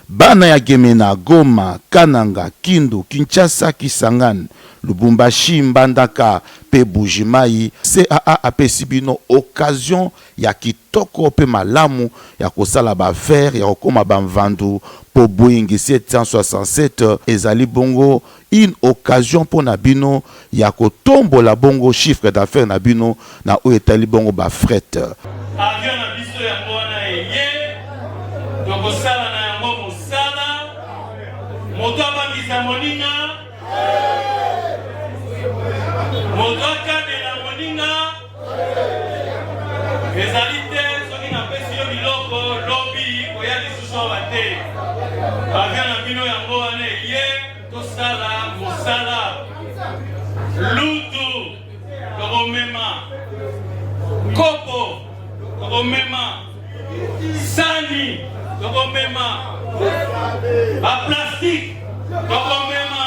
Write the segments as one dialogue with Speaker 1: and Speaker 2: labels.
Speaker 1: Bana ya Gemena, Goma, Kananga, Kindu, Kinshasa, Kisangani, Lubumbashi, Mbandaka pe Bujimayi, CAA apesi bino occasion ya kitoko pe malamu ya kosala ba affaires ya kokoma ba nvandu po Boeing 767 ezali bongo Une occasion pona bino ya ko tombola bongo chiffre d'affaires na bino na oyo etali bongo ba fret. Avion na
Speaker 2: biso yango wana eye, toko sala na yango mosala. Moto abangisa moninga, moto akabela moninga. Ezali te soki napesi yo biloko lobi koya lisusu awa te. Bavio na bino yango wana eye tosala mosala lutu tokomema kopo tokomema sani tokomema baplastike tokomema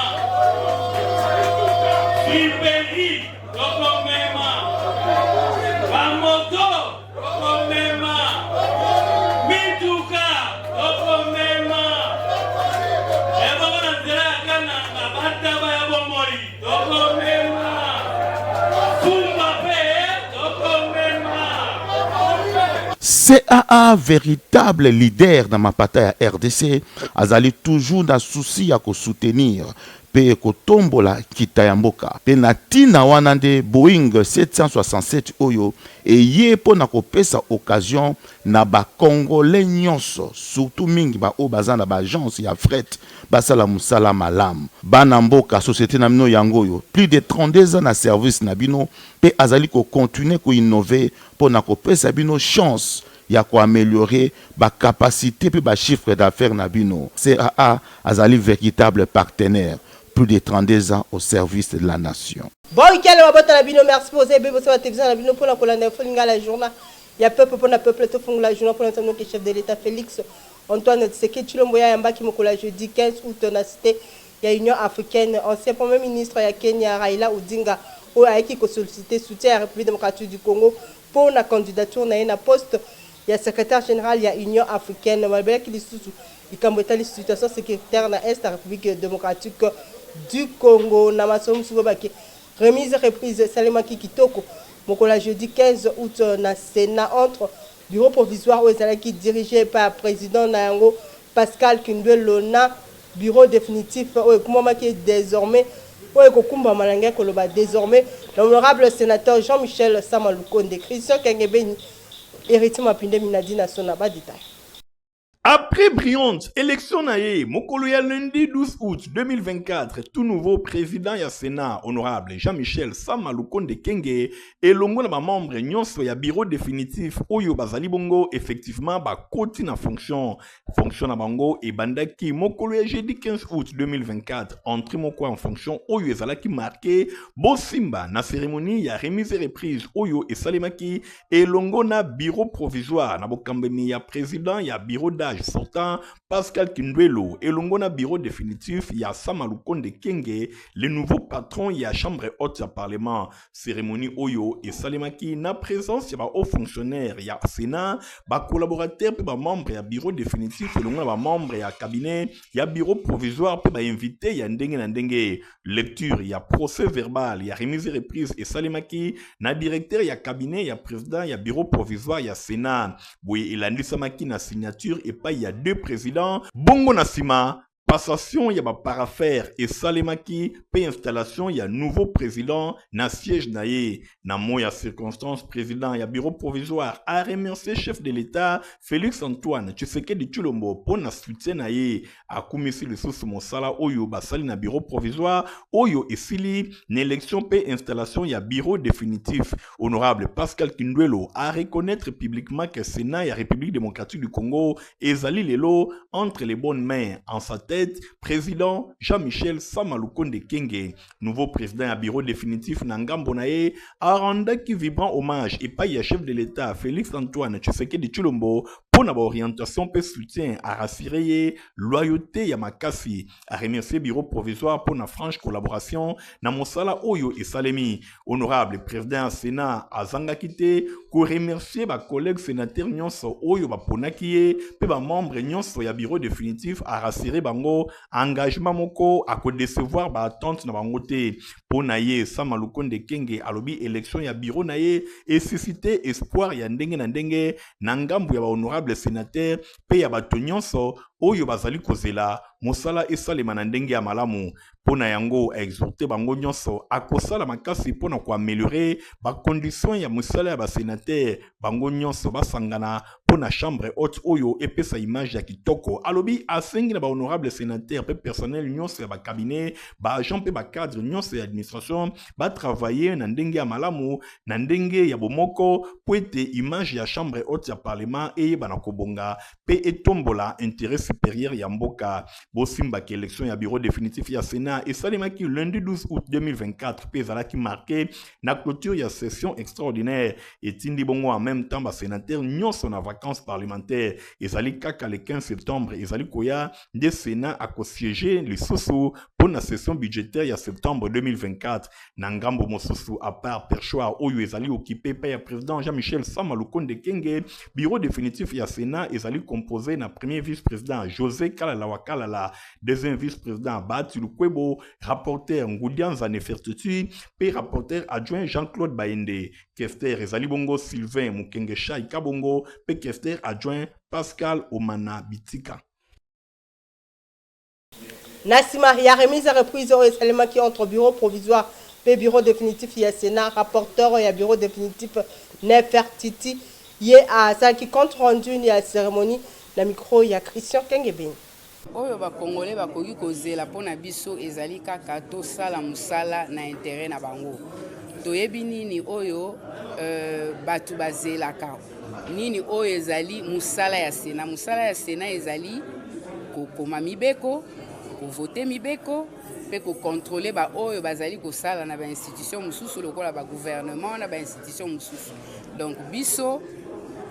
Speaker 1: CAA véritable leader na mapata ya RDC azali toujours na souci ya ko soutenir mpe ekotombola nkita ya mboka, mpe na ntina wana nde Boeing 767 oyo eye mpo na kopesa occasion na ba congolais nionso surtout mingi ba oyo baza na ba agences ya fret basala mosala malamu. Bana mboka, societe na bino yango oyo, plus de 32 ans na service na bino mpe azali ko continuer ko innover mpo na kopesa bino chance ya ko ameliorer ba capacites mpe ba chiffres d'affaires na bino. CAA azali veritable partenaire plus de 32 ans au service de la nation. Boy Kele mabota
Speaker 3: na bino merci boza ebele bosa ba television na bino pona kolanda info lingala journal ya peuple pona peuple tofungola journal pona nzambe noki chef de l'etat Felix Antoine Tshisekedi Tshilombo ye ayambaki mokolo ya jeudi 15 aout na cite ya Union africaine ancien premier ministre ya Kenya Raila Odinga oyo ayaki ko solliciter soutien ya Republique democratique du Congo Mpo na candidature na ye na poste ya Secretaire general ya Union africaine, balobelaki lisusu likambo etali situation securitaire na Est ya Republique democratique du Congo. Na masolo mosusu, balobaki remise reprise esalemaki kitoko mokolo ya jeudi 15 aout na Senat entre Bureau provisoire oyo ezalaki diriger epai ya president na yango Pascal Kindwello na Bureau definitif oyo ekumamaki est desormais oyo ekokumbama nalingaki koloba desormais l'honorable senateur Jean Michel Sama Lukonde, Christian Kiangebeni, Heritier Mapindemi na Dina Sona ba details.
Speaker 4: Après brillant election na ye mokolo ya lundi 12 aout 2024, tout nouveau president ya Senat, honorable Jean Michel Sama Lukonde Kyenge elongo na ba membres nionso ya Bureau definitif oyo bazali bongo effectivement bakoti na fonction fonction na bango ebandaki mokolo ya jeudi 15 août 2024 entrée moko en fonction oyo ezalaki marke bosimba na cérémonie ya remise et reprise oyo esalemaki elongo na bureau provisoire na bokambemi ya président ya bureau d'age sortant pascal kindwelo elongo na bureau définitif ya sama lukonde kenge le nouveau patron ya chambre haute ya parlement Cérémonie Oyo et Salemaki na présence ya ba hauts fonctionnaires ya Sénat, ba collaborateurs pe ba membres ya bureau définitif elongo na ba membres ya cabinet ya bureau provisoire pe ba invités ya ndenge na ndenge. Lecture ya procès verbal ya remise et reprise et Salemaki na directeur ya cabinet ya président ya bureau provisoire ya Sénat. Boye elandisamaki na signature epai ya deux présidents. Bongo na sima, Passation ya ba paraphère esalemaki mpe installation ya nouveau president na siège na ye. Na moyi ya circonstance, president ya bureau provisoire a remercier chef de l'Etat Felix Antoine Tshisekedi Tshilombo mpo na soutien na ye. Akumisi lisusu mosala oyo basali na bureau provisoire oyo esili n'election mpe installation ya bureau definitif. Honorable Pascal Kindwelo a reconnaître publiquement que Sénat ya République démocratique du Congo ezali lelo entre les bonnes mains. En sa tête, président Jean-Michel Sama Lukonde Kenge, nouveau président ya bureau définitif na ngambo na ye, arendaki vibrant hommage epai ya chef de l'État Félix Antoine Tshisekedi Tshilombo mpo na baorientation mpe soutien a rassurer ye loyauté ya makasi a remercier bureau provisoire mpo na franche collaboration na mosala oyo esalemi honorable président ya sénat azangaki te koremercier bacollègue sénateur nyonso oyo baponaki ye mpe bamembre nyonso ya bureau définitif arassire bango engagement moko akodecevoir baattente na bango te mpo na ye sama lukonde kenge alobi élection ya bureau na ye esusite espoir ya ndenge na ndenge na ngambo ya bahonorable sénateur mpe ya bato nyonso oyo bazali kozela mosala esalema na ndenge ya malamu mpo na yango aexhorte bango nyonso akosala makasi mpo na koameliore bacondition ya mosala ya basenatere bango nyonso basangana mpo na chambre haute oyo epesa image ya kitoko alobi asengi na bahonorable senatere mpe personnel nyonso ya bakabinet baagent mpe bacadre nyonso ya administration batravaille na ndenge ya malamu na ndenge ya bomoko mpo ete image ya chambre haute ya parlement eyebana kobonga mpe etombola interet superieur ya mboka bosimba ke election ya bureau définitif ya senat esalemaki lundi 12 août 2024 mpe ezalaki marke na clôture ya session extraordinaire etindi bongo en même temps basenateur nyonso na vacances parlementaire ezali kaka le 15 septembre ezali koya nde senat akosiege lisusu mpo na session budgétaire ya septembre 2024 na ngambo mosusu apart perchoir oyo ezali okipe mpe ya président jean michel sama lukonde kenge bureau définitif ya sénat ezali compose na premier vice président josé kalala wa kalala deuxième vice président bahati lukwebo rapporteur ngudianza nefertitude mpe rapporteur adjoint jean claude baende kester ezali bongo sylvain mokenge shai kabongo mpe kester adjoint pascal omana bitika
Speaker 3: Na sima ya remise et reprise oyo esalemaki entre Bureau provisoire mpe Bureau definitif ya Senat, rapporteur ya Bureau definitif, Nefertiti, ye asalaki compte rendu ya ceremonie na micro ya Christian Kengebeni. Oyo ba
Speaker 5: Congolais bakoki kozela mpo na biso ezali kaka tosala mosala na interet na bango. Toyebi nini oyo batu bazelaka. Nini oyo ezali mosala ya Sena? Mosala ya Sena ezali kokoma mibeko, kovote mibeko mpe kokontrole baoyo bazali kosala na bainstitution mosusu lokola bagouvernement na bainstitution mosusu. Donc biso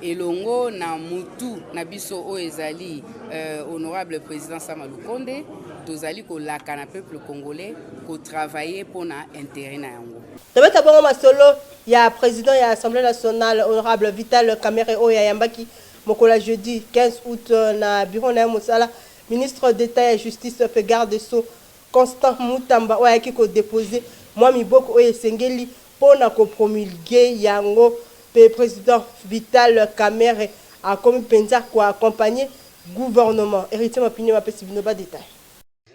Speaker 5: elongo na mutu na biso oyo ezali euh, honorable président Sama Lukonde tozali kolaka na peuple congolais kotravaille mpo na intérêt na yango. Tobeta bongo masolo
Speaker 3: ya president ya Assemblee nationale, honorable Vital Kamerhe, oyo ayambaki mokolo ya jeudi 15 aout na bureau na ye ya mosala ministre d'Etat ya justice mpe garde des sceaux, Constant Mutamba, oyo ayaki ko deposer mwa miboko oyo esengeli mpo na ko promulguer yango mpe president Vital Kamerhe akomi mpenza ko accompagner gouvernement. Heritier Mapinema apesi bino ba details.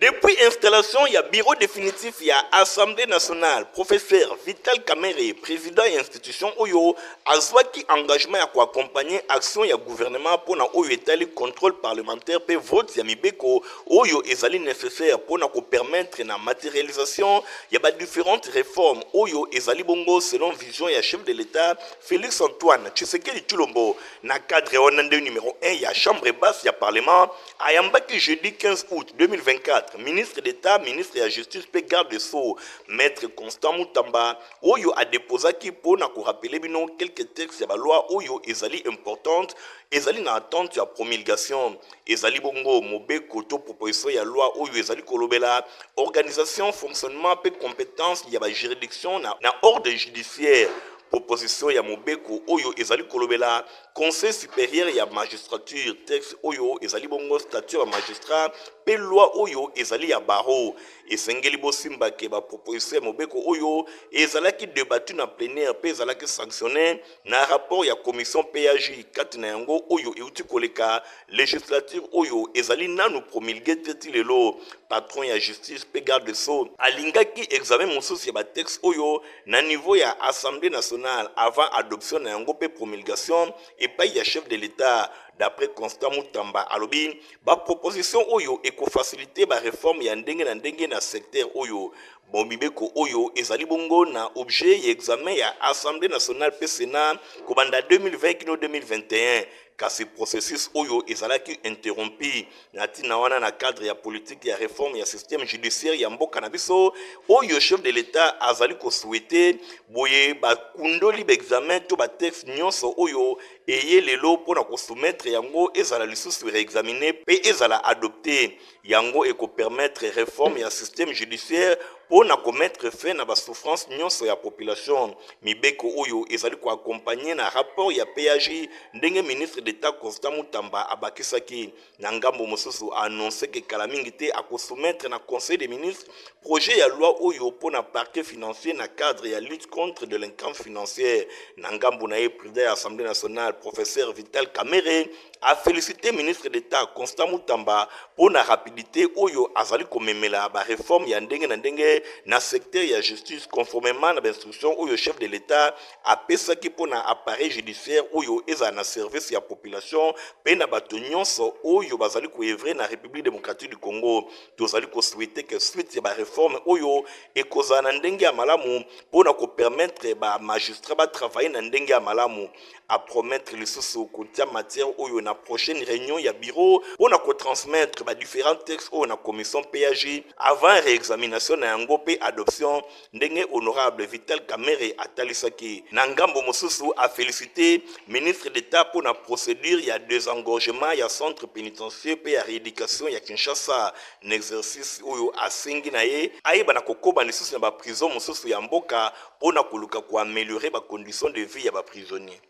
Speaker 3: Depuis
Speaker 4: installation ya bureau definitif ya Assemblee nationale, professeur Vital Kamerhe, president ya institution oyo, azwaki engagement ya ko accompagner action ya gouvernement mpo na oyo etali controle parlementaire mpe vote ya mibeko oyo ezali necessaire mpo na ko permettre na materialisation ya ba differentes reformes oyo ezali bongo selon vision ya chef de l'Etat Felix-Antoine Tshisekedi Tshilombo. Na cadre wana nde numero un ya chambre basse ya parlement Ayambaki jeudi 15 aout 2024 ministre d'Etat, ministre ya Justice mpe garde des Sceaux, Maitre Constant Mutamba, oyo a deposaki mpo na ko rappeler bino quelques textes ya ba lois oyo ezali importantes, ezali na attente ya promulgation. Ezali bongo mobeko to proposition ya loi oyo ezali kolobela organisation, fonctionnement mpe competences ya ba juridictions na ordre judiciaire, proposition ya mobeko oyo ezali kolobela Conseil superieur ya magistrature, texte oyo ezali bongo statut ya magistrat mpe loi oyo ezali ya barreau. Esengeli bosimba ke ba proposition ya mobeko oyo ezalaki debattu na plenaire mpe ezalaki sanctionne na rapport ya commission PAJ kati na yango oyo euti koleka legislature oyo ezali nanu promulguer te ti lelo. Patron ya justice mpe garde des sceaux alingaki examen mosusu ya ba textes oyo. na niveau ya Assemblee nationale avant adoption na yango mpe promulgation epai ya chef de l'Etat, d'après Constant Mutamba, alobi ba propositions oyo eko faciliter ba reformes ya ndenge na ndenge na secteur oyo. Bon, mibeko oyo ezali bongo na objet ya examen ya Assemblee nationale mpe Senat kobanda 2020 kino 2021. Kasi processus oyo ezalaki interrompu na tina wana na cadre ya politique ya reforme ya système judiciaire ya mboka na biso oyo chef de l'Etat azali ko souhaiter, boye bakundoli ba examens to ba textes nionso oyo eye lelo mpo na ko soumettre yango
Speaker 6: ezala lisusu reexaminer mpe ezala adopter. Yango eko permettre reforme ya système judiciaire mpo na ko mettre fin na ba souffrances nionso ya population. Mibeko oyo ezali ko accompagner na rapport ya PAJ, ndenge ministre d'Etat Constant Mutamba abakisaki. Na ngambo mosusu, a annoncer que kala mingi te ako soumettre na Conseil des ministres projet ya loi oyo mpo na parquet financier na cadre ya lutte contre delinquance financière. Na ngambo na ye, president ya Assemblee nationale, professeur Vital Kamerhe, a felicite ministre d'Etat Constant Mutamba mpo na rapidite oyo azali komemela ba reforme ya ndenge na ndenge na secteur ya justice conformement na ba instruction oyo chef de l'Etat apesaki mpo na appareil judiciaire oyo ezala na service ya population mpe na bato nyonso oyo bazali koevre na République démocratique du Congo. Tozali kosouhaite que suite ya ba reforme oyo ekozala na ndenge ya malamu mpo na kopermettre ba magistrats batravailler na ndenge ya malamu, a promettre lisusu kotia matière oyo na prochaine reunion ya bureau mpo na ko transmettre ba differents textes oyo na commission PAG avant reexamination na yango mpe adoption, ndenge honorable Vital Kamerhe atalisaki. Na ngambo mosusu, a feliciter Ministre d'Etat mpo na procedure ya desengorgement ya centre penitentieux mpe ya reeducation ya Kinshasa n'exercice oyo asengi na ye ayeba na kokoba lisusu na ba prisons mosusu ya mboka mpo na koluka ko ameliorer ba conditions de vie ya ba prisonniers.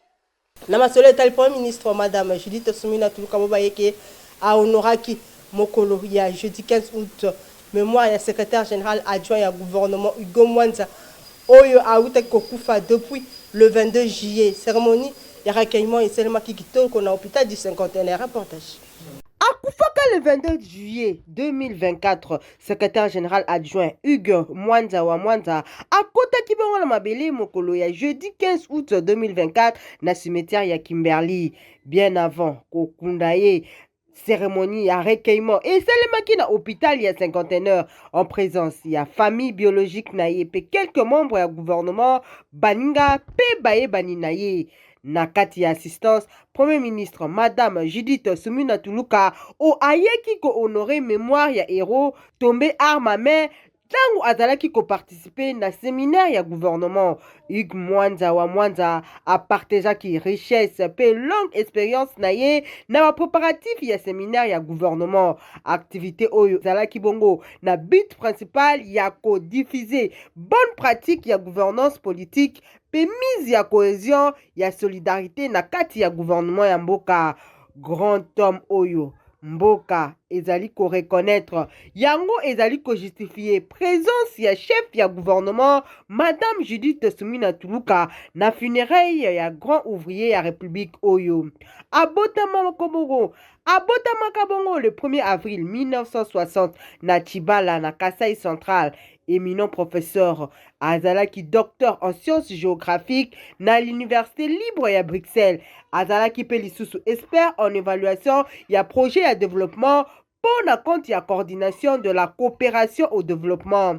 Speaker 6: Na masolo
Speaker 3: etali Premier ministre, Madame Judith Suminwa Tuluka Bobayeke a honoraki mokolo ya jeudi 15 aout memoire ya Secretaire general adjoint ya gouvernement Hugo Mwanza oyo awutaki kokufa depuis le 22 juillet. Ceremonie ya recueillement esalemaki kitoko na hopital du Cinquantenaire. Reportage. Akufaka le 22 juillet 2024 secrétaire général adjoint Hugues Mwanza wa Mwanza akotaki bongo na mabele mokolo ya jeudi 15 août 2024 na cimetière ya Kimberley bien avant kokunda ye cérémonie ya recueillement esalemaki na hôpital ya cinquantenaire en présence ya famille biologique na ye mpe quelques membres ya gouvernement baninga mpe bayebani na ye Na kati ya assistance, Premier ministre Madame Judith Sumina Tuluka o ayeki ko honorer memoire ya heros tombe arme à main ntango azalaki ko participer na seminaire ya gouvernement. Hugues Mwanza wa Mwanza a partageaki richesse mpe longue experience na ye na ba preparatifs ya seminaire ya gouvernement. Activite oyo ezalaki bongo na but principal ya ko diffuser bonne pratique ya gouvernance politique mpe mise ya cohesion ya solidarite na kati ya gouvernement ya mboka grand homme oyo mboka ezali ko reconnaitre yango ezali ko justifier presence ya chef ya gouvernement madame Judith Sumina Tuluka na funérailles ya grand ouvrier ya république oyo abotama kobongo abotamaka bongo le 1er avril 1960 na Chibala na Kasai central Eminent professeur azalaki docteur en sciences géographiques na l'université libre ya Bruxelles. Azalaki mpe lisusu expert en évaluation ya projet ya développement mpo na compte ya coordination de la coopération au développement.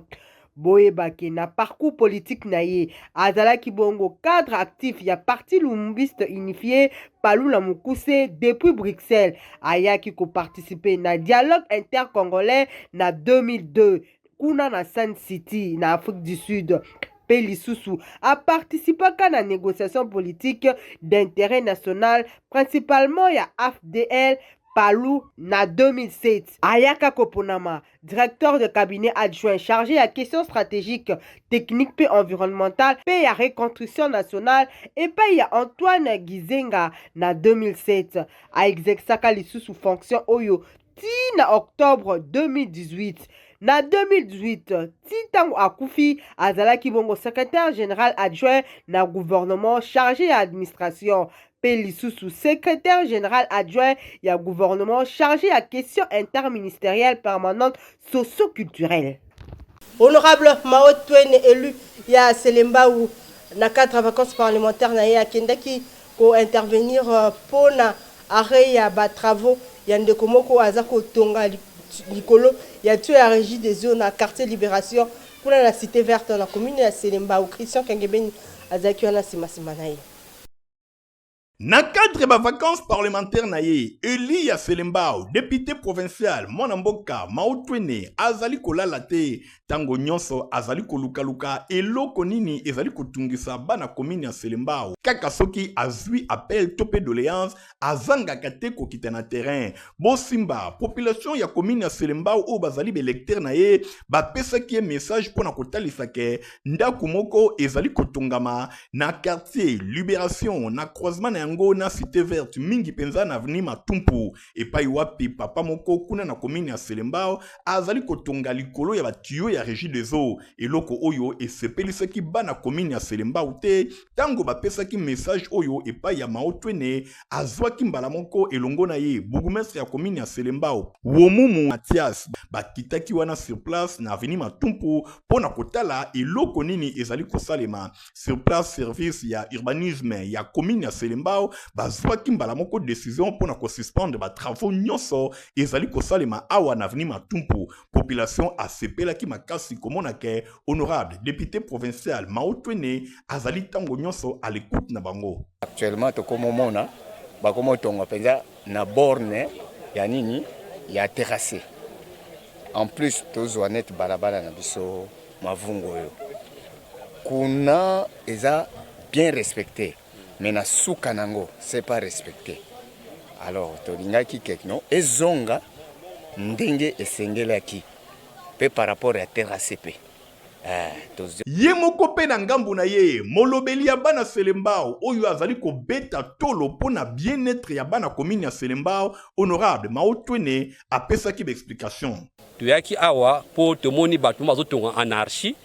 Speaker 3: boyeba ke na parcours politique na ye azalaki bongo cadre actif ya parti lumumbiste unifié palula mokuse depuis bruxelles ayaki koparticipe na dialogue intercongolais na 2002 kuna na Sun City na Afrique du Sud mpe lisusu apartisipaka na négociation politique d'intérêt national principalement ya AFDL Palu na 2007 ayaka koponama directeur de cabinet adjoint chargé ya question stratégique technique mpe environnementale mpe ya reconstruction nationale epai ya Antoine Gizenga na 2007 aexercaka lisusu fonction oyo ti na octobre 2018. Na 2018, ti ntango akufi, azalaki bongo secretaire general adjoint na gouvernement charge ya administration mpe lisusu secretaire general adjoint ya gouvernement charge ya question interministerielle permanente socio-culturelle. Honorable Mao Twene, élu ya Selembao, na cadre ya vacances parlementaires na ye akendaki ko intervenir mpo euh, na arrêt ya ba travaux ya ndeko moko aza kotonga likolo ya tuyau ya regie des eaux na quartier Liberation kuna na cité verte na commune ya Selembao. Christian Kengebeni azalaki wana nsima nsima na ye. Na
Speaker 4: cadre ba vacances parlementaires na ye, Eliya Selembao, depute provincial, mwana mboka Mautwene, azali kolala te, tango nyonso azali kolukaluka eloko nini ezali kotungisa bana commune ya Selembao. Kaka soki azui appel to pe doleance, azangaka te kokita na terrain. Bosimba, population ya commune ya Selembao oyo bazali ba electeurs na ye, bapesaki ye message mpo na kotalisa ke ndako moko ezali kotongama na quartier liberation na croisement na yango na cité verte mingi mpenza na avenue matumpu epai wapi papa moko kuna na komini ya selembao azali kotonga likolo ya batiyo ya régie des eaux eloko oyo esepelisaki bana komini ya selembao te ntango bapesaki message oyo epai ya maotwene azwaki mbala moko elongo na ye bourgmestre ya komini ya selembao womumu matias bakitaki wana sur place na aveni matumpu mpo na kotala eloko nini ezali kosalema sur place service ya urbanisme ya komini ya selembao bazwaki mbala moko decision mpo na kosuspendre batravaux nyonso ezali kosalema awa na aveni matumpu population asepelaki makasi komona ke honorable depute provincial maotwene azali ntango nyonso à l'écoute na bango actuellement tokomomona
Speaker 7: bakomotonga mpenza na borne ya nini ya terrasse en plus tozwa net balabala na biso mavungu oyo kuna eza bien respecte mais na suka nango c'est pas respecté alors tolingaki kekno ezonga ndenge esengelaki pe par rapport ya trcp eh,
Speaker 4: ye moko mpe na ngambo na ye molobeli ya bana selembao oyo azali kobeta tolo mpo na bien-etre ya bana komini ya selembao honorable maotwene apesaki baexplication toyaki awa
Speaker 8: mpo tomoni bato bazotonga anarchie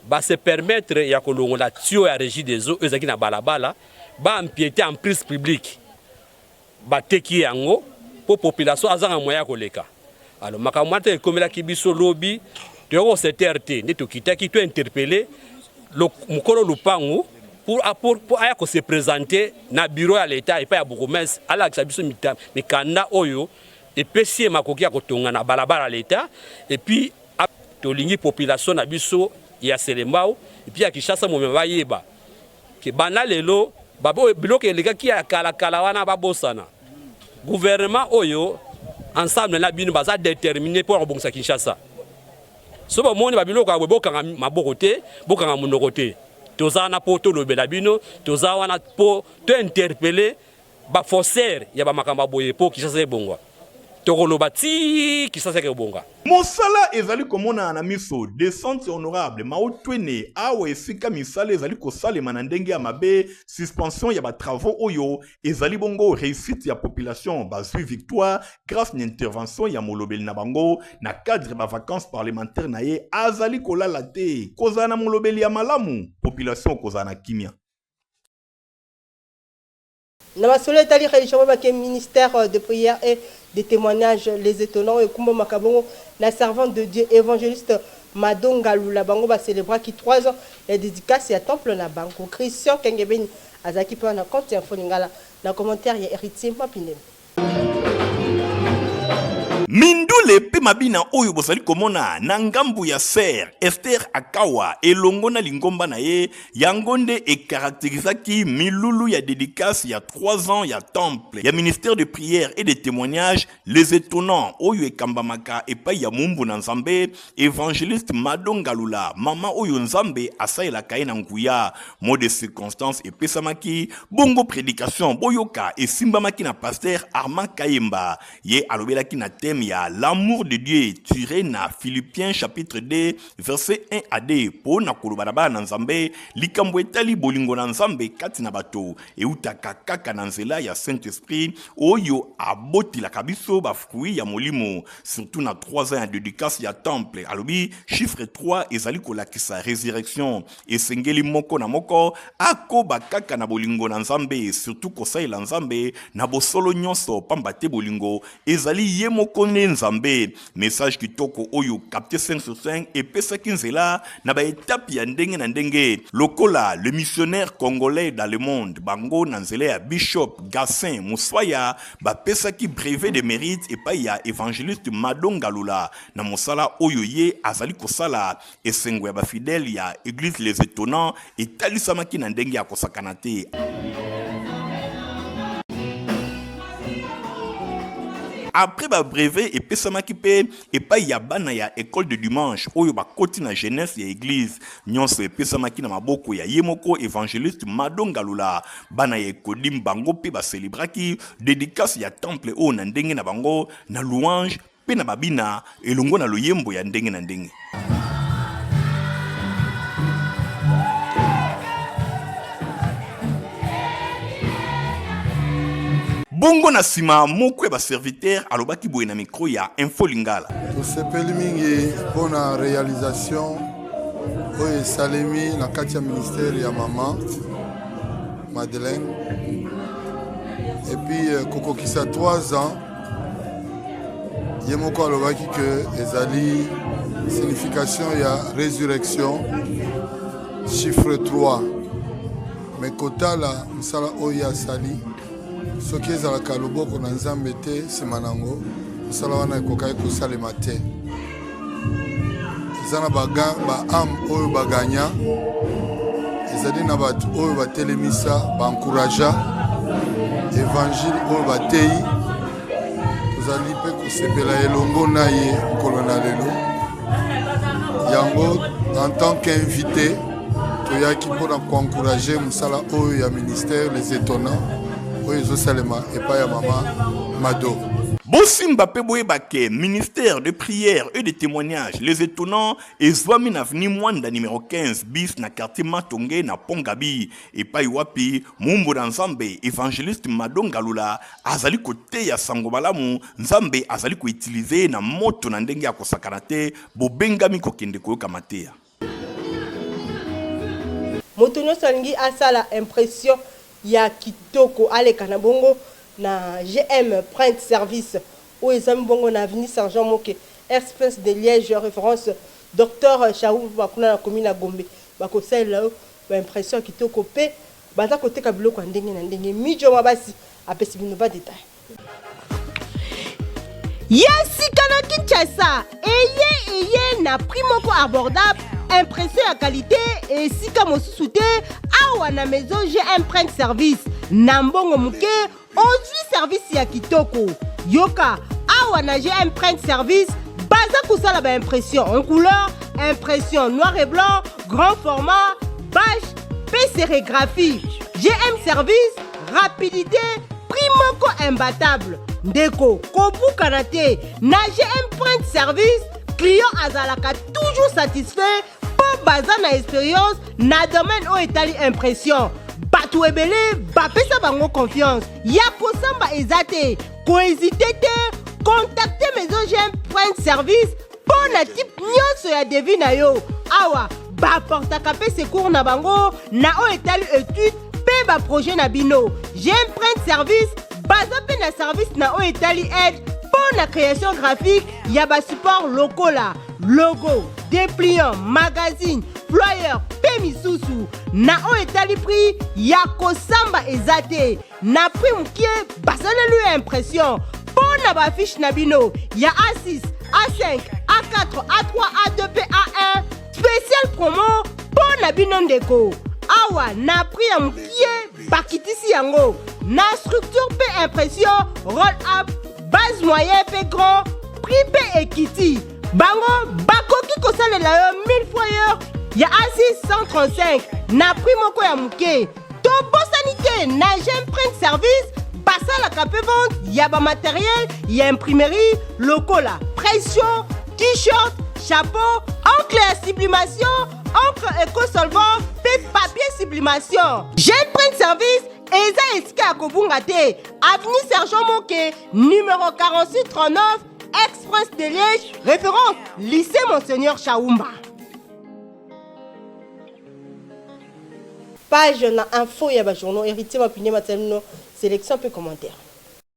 Speaker 8: ba se permettre ya kolongola tuyau ya regie des eaux oyo ezalaki na balabala, ba empieter en prise publique bateki ye yango mpo population azanga moyen ya koleka. Alors makambo wana ntango ekomelaki biso lobi, toyaki ko se taire te, nde tokitaki to interpeller mokolo lupangu pour, pour, pour aya ko se presenter na bureau ya l'etat epai ya bourgmestre alakisa biso mikanda oyo epesi ye makoki ya kotonga na balabala ya l'etat epuis Tolingi population na biso ya Selembao epuis ya Kinshasa mobimba bayeba ke banda lelo biloko elekaki ya kala kala wana babosana. Gouvernement oyo ensemble na bino baza determine mpo ya kobongisa Kinshasa. So bomoni ba biloko ya boye bokanga maboko te, bokanga monoko te. Toza wana mpo tolobela bino, toza wana mpo to interpeller ba fosser ya ba makambo ya boye po Kinshasa ebonga tokoloba ti Kinshasa eke ebonga. Mosala ezali
Speaker 4: komonana na miso, descente honorable Mao Twene, awa esika misala ezali kosalema na ndenge ya mabe, suspension ya ba travaux oyo ezali bongo reussite ya population bazui victoire grace na intervention ya molobeli na bango na cadre ba vacances parlementaires na ye azali kolala te kozala na molobeli ya malamu population kozala na kimia.
Speaker 3: Na masolo etali religion ba baki ministère de prière et de temoignage les etonnants ekumbamaka bongo na servante de Dieu evangeliste Mado Ngalula bango ba celebraki trois ans ya dedicace ya temple na bango. Christian Kengebeni azalaki mpe wana Compte Info Lingala na commentaire ya Heritier Mapindemi.
Speaker 4: mindule mpe mabina oyo bozali komona na ngambo ya fer ester akawa elongo na lingomba na ye yango nde ekarakterizaki milulu ya dedikase ya 3 ans ya temple ya ministère de prière et de témoignage les étonnants oyo ekambamaka epai ya moumbu na nzambe Evangeliste Mado Ngalula, mama oyo Nzambe asalelaka ye na nguya, mot de circonstance epesamaki, bongo predication boyoka esimbamaki na pasteur Armand Kayemba, ye alobelaki na thème ya l'amour de Dieu tiré na Philippiens chapitre 2 verset 1 à 2 mpo na koloba na bana na Nzambe likambo etali bolingo na Nzambe kati na bato eutaka kaka na nzela ya Saint-Esprit oyo abotelaka biso ba fruits ya molimo surtout na 3 ans ya dédicace ya temple alobi chiffre 3 ezali kolakisa résurrection esengeli moko na moko akoba kaka na bolingo na nzambe surtout kosalela nzambe na bosolo nyonso pamba te bolingo ezali ye moko nde nzambe message kitoko oyo capte 5 sur 5 epesaki nzela na baetape ya ndenge na ndenge lokola le missionnaire congolais dans le monde bango na nzela ya bishop gassin moswaya Bapesaki brevet de merite epai ya Evangeliste Mado Ngalula na mosala oyo ye azali kosala. Esengo ya ba fidèles ya Eglise Les Etonnants etalisamaki na ndenge ya kosakana te. Après ba brevet epesamaki mpe epai ya bana ya Ecole de Dimanche oyo bakoti na jeunesse ya eglise. Nionso epesamaki na maboko ya ye moko evangeliste Mado Ngalula. Bana ya Ecodim bango mpe ba celebraki dedicace ya temple oyo na ndenge na bango na louange mpe na babina elongo na loyembo ya ndenge na ndenge. bongo na nsima moko ya baserviteur alobaki boye na mikro ya info lingala tosepeli mingi
Speaker 9: mpo na realisation oyo esalemi na kati ya ministère ya mama madeleine epuis euh, kokokisa 3 ans ye moko alobaki ke ezali signification ya résurrection chiffre 3 me kotala mosala oyo ye asali soki ezalaka loboko na nzambe te nsima na yango mosala wana ekokaki kosalema te eza na baame oyo baganya ezali na bato oyo batelemisa baencouragea evangile oyo bateyi tozali mpe kosepela elongo na ye mokolo na lelo yango en tant qu'invité toyaki mpo na koencourage mosala oyo ya ministère les étonnants oyo ezosalema epai ya mama mado bosimba
Speaker 4: mpe boyeba ke ministère de prière et de témoignage les étonnants ezwami na avenue mwanda numero 15 bis na quartier matonge na pont gabi epai wapi mombo na nzambe évangéliste mado ngalula azali koteya sango malamu nzambe azali koutilize ye na moto na ndenge ya kosakana te bobengami kokende koyoka mateya
Speaker 3: Moto nyonso alingi asala impression ya kitoko aleka na bongo na GM Print Service oyo ezwami bongo na avenue Sergent Moke, Ex-Prince de Liège, Reverence Docteur Shahuba kuna na commune ya Gombe. Bakosalela yo ba impressions ya kitoko mpe baza koteka biloko ya ndenge na ndenge. Midjo Mabasi apesi bino ba details. ya sika na kinshasa eye eye na prix moko abordable impression ya kalite esika mosusu te awa na maison gm print service na mbongo moke ozwi servisi ya kitoko yoka awa na gm print service baza kosala baimpression en couleur impression noir et blanc grand format bache mpe sérigraphie gm service rapidite prix moko imbatable ndeko kobukana te na gm point service client azalaka toujours satisfait mpo baza na experience na domaine oyo etali impression bato ebele bapesa bango confiance ya kosamba eza te koezite te contacte maison gm point service mpo na type nyonso ya devi na yo awa baportaka mpe secours na bango na oyo etali etude mpe baprojet na bino gm print service baza mpe na service na oyo etali aide mpo na création graphique ya basupport lokola logo dépliant magazine flyer mpe misusu na oyo etali prix ya kosamba eza te Na prix mukie basaleli yo impression mpo na baafishe na bino ya A6, A5, A4, A3, A2 mpe A1 special promo mpo na bino ndeko. Awa na prix ya mukie bakitisi yango na structure mpe impression roll up base moyen mpe grand prix mpe ekiti bango bakoki kosalela yo 1000 fois heure ya A6 135 na prix moko ya muke tobosani te na gemprint service basalaka mpe vente ya bamateriel ya imprimerie lokola pression t-shirt chapeau encre ya sublimation encre ecosolvant mpe papier sublimation gemprint service eza esika ya kobunga te avenue sergent moke numero 4639 express de liège référence lycée monseigneur chaumba Page na info ya ba journaux Heritier Mapindia matali bino selection mpe commentaire.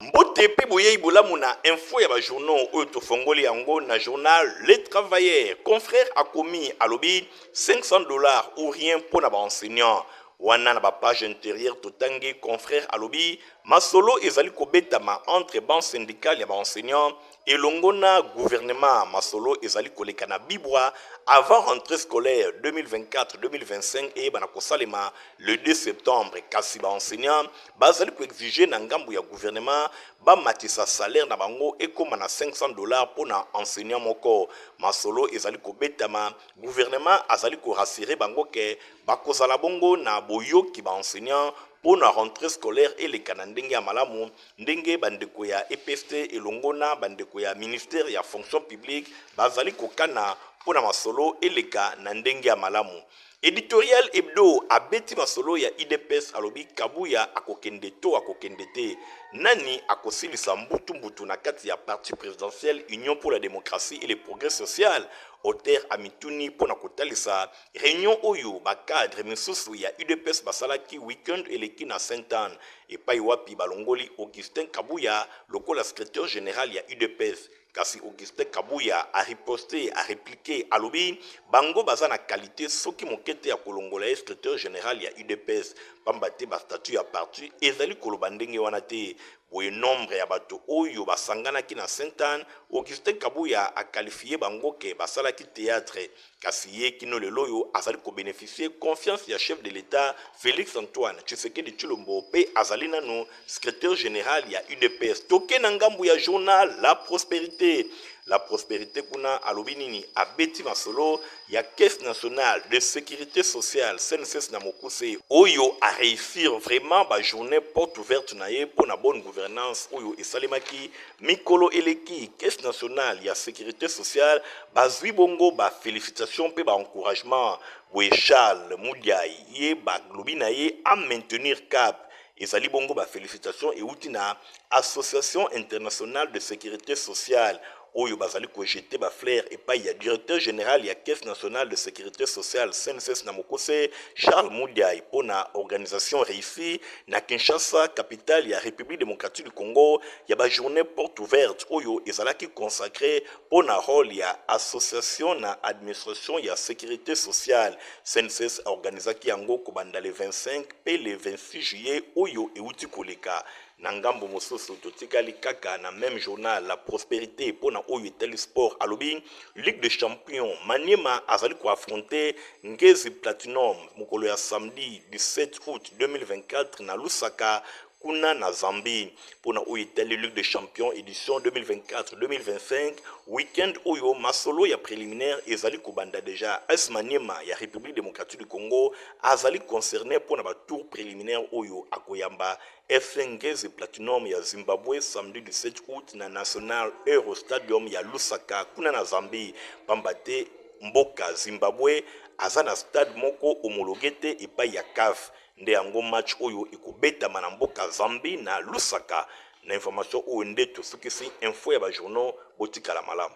Speaker 3: Mbote
Speaker 6: mpe boyei bolamu na info ya ba journaux oyo tofongoli yango na journal Le Travailleur. Confrère akomi alobi 500 dollars ou rien mpo na ba enseignants. Wana na ba pages interieures totangi confrère alobi masolo ezali kobetama entre banc syndical ya ba enseignants Elongo na gouvernement, masolo ezali koleka na bibwa avant rentree scolaire 2024-2025 eyebana kosalema le 2 septembre. Kasi ba enseignants bazali ko exiger na ngambo ya gouvernement bamatisa salaire na bango ekoma na 500 dollars mpo na enseignant moko. Masolo ezali kobetama, gouvernement azali ko rassurer bango que bakozala bongo na boyoki ba enseignants mpo na rentree scolaire eleka na ndenge ya malamu. ndenge bandeko ya EPST elongo na bandeko ya ministère ya fonction publique bazali kokana mpo na masolo eleka na ndenge ya malamu. Editorial Hebdo abeti masolo ya IDPS alobi Kabuya akokende to akokende te, nani akosilisa mbutu mbutu na kati ya parti presidentiel Union pour la democratie et le progrès social? Auteur amituni mpo na kotalisa reunion oyo ba cadres misusu ya UDPS basalaki week-end eleki na Sainte-Anne. epayi wapi balongoli Augustin Kabuya lokola Secretaire general ya udps, kasi Augustin Kabuya a riposte, a repliquer, alobi bango baza na qualite soki moke te ya kolongola ye Secretaire general ya udps pamba te ba statuts ya parti ezali koloba ndenge wana te. Boye nombre ya bato oyo basanganaki na Sainte-Anne, Augustin Kabuya a qualifier bango que basalaki theatre Kasi ye kino lelo oyo azali ko beneficier confiance ya chef de l'Etat Felix Antoine Tshisekedi Tshilombo mpe azali nanu Secretaire general ya udps. Toke na ngambo ya journal La Prosperite. La Prosperite kuna alobi nini? Abeti masolo ya Caisse nationale de securite sociale CNSS na mokuse oyo a reussir vraiment ba journees porte ouverte na ye mpo na bonne gouvernance oyo esalemaki Mikolo eleki, Caisse nationale ya securite sociale bazwi bongo ba felicitations mpe ba encouragements. Boye Charles Mudiay ye balobi na ye a maintenir cap. Ezali bongo ba felicitations ewuti na Association internationale de securite sociale oyo bazali ko jeter ba fleurs epayi ya Directeur general ya Caisse nationale de securite sociale, CNSS, na mokuse, Charles Mudiay mpo na organisation reussie Na Kinshasa, capitale ya Republique democratique du Congo, ya ba journees portes ouvertes oyo ezalaki consacrees mpo na role ya association na administration ya securite sociale, CNSS aorganisaki yango kobanda le 25 mpe le 26 juillet oyo ewuti koleka. Na ngambo mosusu, totikali kaka na meme journal la prosperite mpo na oyo etali sport, alobi. Ligue des champions, Maniema azali ko affronter Ngezi Platinum mokolo ya samedi 17 aout 2024 na Lusaka, kuna na Zambie. Mpo na oyo etali Ligue des champions edition 2024-2025, week-end oyo masolo ya preliminaire ezali kobanda deja. AS Maniema ya Republique democratique du Congo azali concerne mpo na ba tours preliminaires oyo akoyamba Efrengezi Platinum ya Zimbabwe samedi 17 aout na National Euro Stadium ya Lusaka kuna na Zambie pamba te mboka Zimbabwe aza na stade moko homologue te epai ya CAF nde yango match oyo ekobetama na mboka Zambie na Lusaka na information oyo nde tosukisi info ya ba journaux botikala malamu.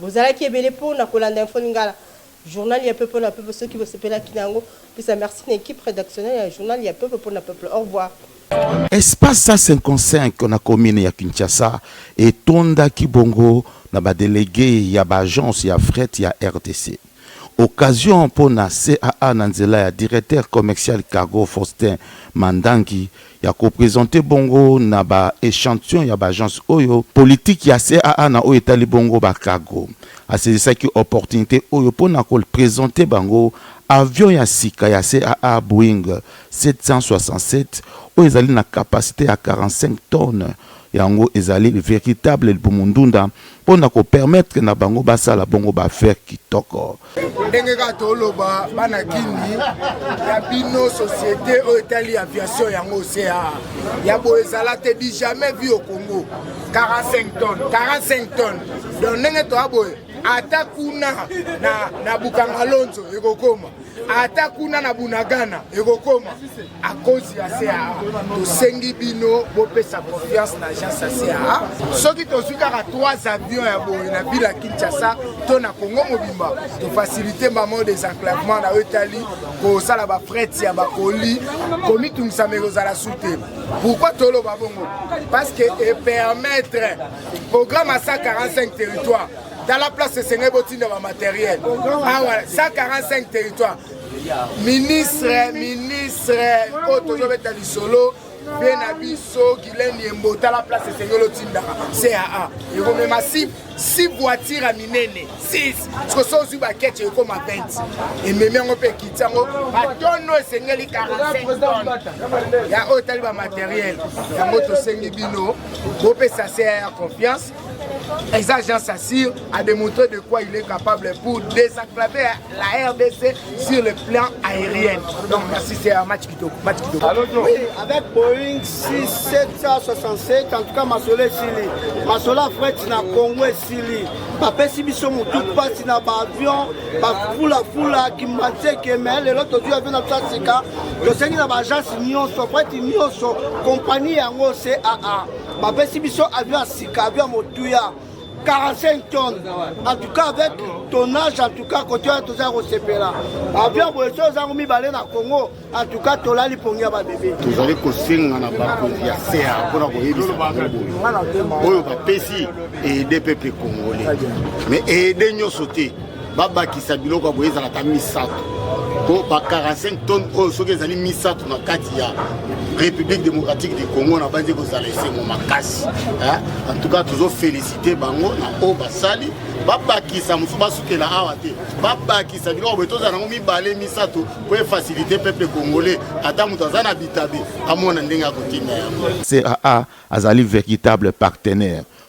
Speaker 3: Bozalaki ebele po na kolanda Info Lingala, journal ya peuple na peuple. Soki bosepelaki na yango, pesa merci na equipe redactionnelle ya journal ya peuple po na peuple. Au revoir. Espace
Speaker 1: 155 na commune ya Kinshasa etondaki bongo na ba delegues ya ba agences ya fret ya rdc. Occasion mpo na CAA na nzela ya Directeur Commercial Cargo Faustin Mandangi ya ko presenter bongo na ba echantion ya b'agences oyo politique ya CAA na oyo etali bongo ba cargo. Asaisissaki opportunite oyo mpo na ko presenter bango avion ya sika ya CAA Boeing 767 oyo ezali na capacite ya 45 tonnes Yango ezali veritable libumu ndunda mpo na ko permettre na bango basala bongo ba affaires kitoko. Ndenge kaka
Speaker 10: toloba bana kindi ya bino societe oyo etali aviation yango sea ya boye ezala te du jamais vu au Congo 45 tonnes 45 tonnes donc ndenge toya boye ata kuna na, na Bukangalonzo ekokoma ata kuna na bunagana ekokoma akozi ya caa tosengi bino bopesa confiance na agence ya caa soki tozwi kaka 3 avion ya boye na ville ya kinshasa to na congo mobimba tofasilite mbamo des enclavement na oyo etali kosala bafrete ya bakoli komitungisama ekozala su te pourkui toloba bongo parce que epermettre programme ya 145 territoire tala place esengeli botinda ba materiel awa 145 territoire ministre ministre oyo tozobeta lisolo mpe na biso gilene yembo tala place esengeli otindaka caa ekomema si si voitire ya minene 6 siko so ozwi bakete ekoma 20 ememi yango mpe ekiti yango batono esengeli 45 tone ya oyo etali bamateriel yango tosengi bino bopesa caa ya confiance Eza Jean Sassir a démontré de quoi il est capable pour désenclaver la RDC sur le plan aérien. Donc merci, c'est un match kitoko. Match kitoko. Oui,
Speaker 11: avec Boeing 6767, en tout cas Masole Sili. Masola Fret na Congo et Sili. bapesi biso motu mpasi na baavion bafulafula kimbanseke me lelo tozwi avio na biso ya sika tosengi na baagence nyonso preti nyonso kompani yango caa bapesi biso avion ya sika avion ya motuya 45 tonnes en tout cas avec tonnage en tout cas kote wana toza kosepela avion boye so ozango mibale na congo en tout cas tolali pongi ya babebe tozali kosenga
Speaker 12: na bakonzi ya sea mpona koyebisa bango boye oyo bapesi eede peuple congolais mais eede nyonso te babakisa biloko ya boye ezala ata misato mpo ba 45 tonne oyo soki ezali misato na kati ya république démocratique du congo na banzi kozala esengo makasi en tout cas tozofélicité bango na oyo basali babakisa mosusu basukela awa te babakisa biloko boye tozala yango mibale misato mpo efacilité peuple congolais ata moto aza na bitabe amona ndenge akotinda yango caa
Speaker 1: azali véritable partenaire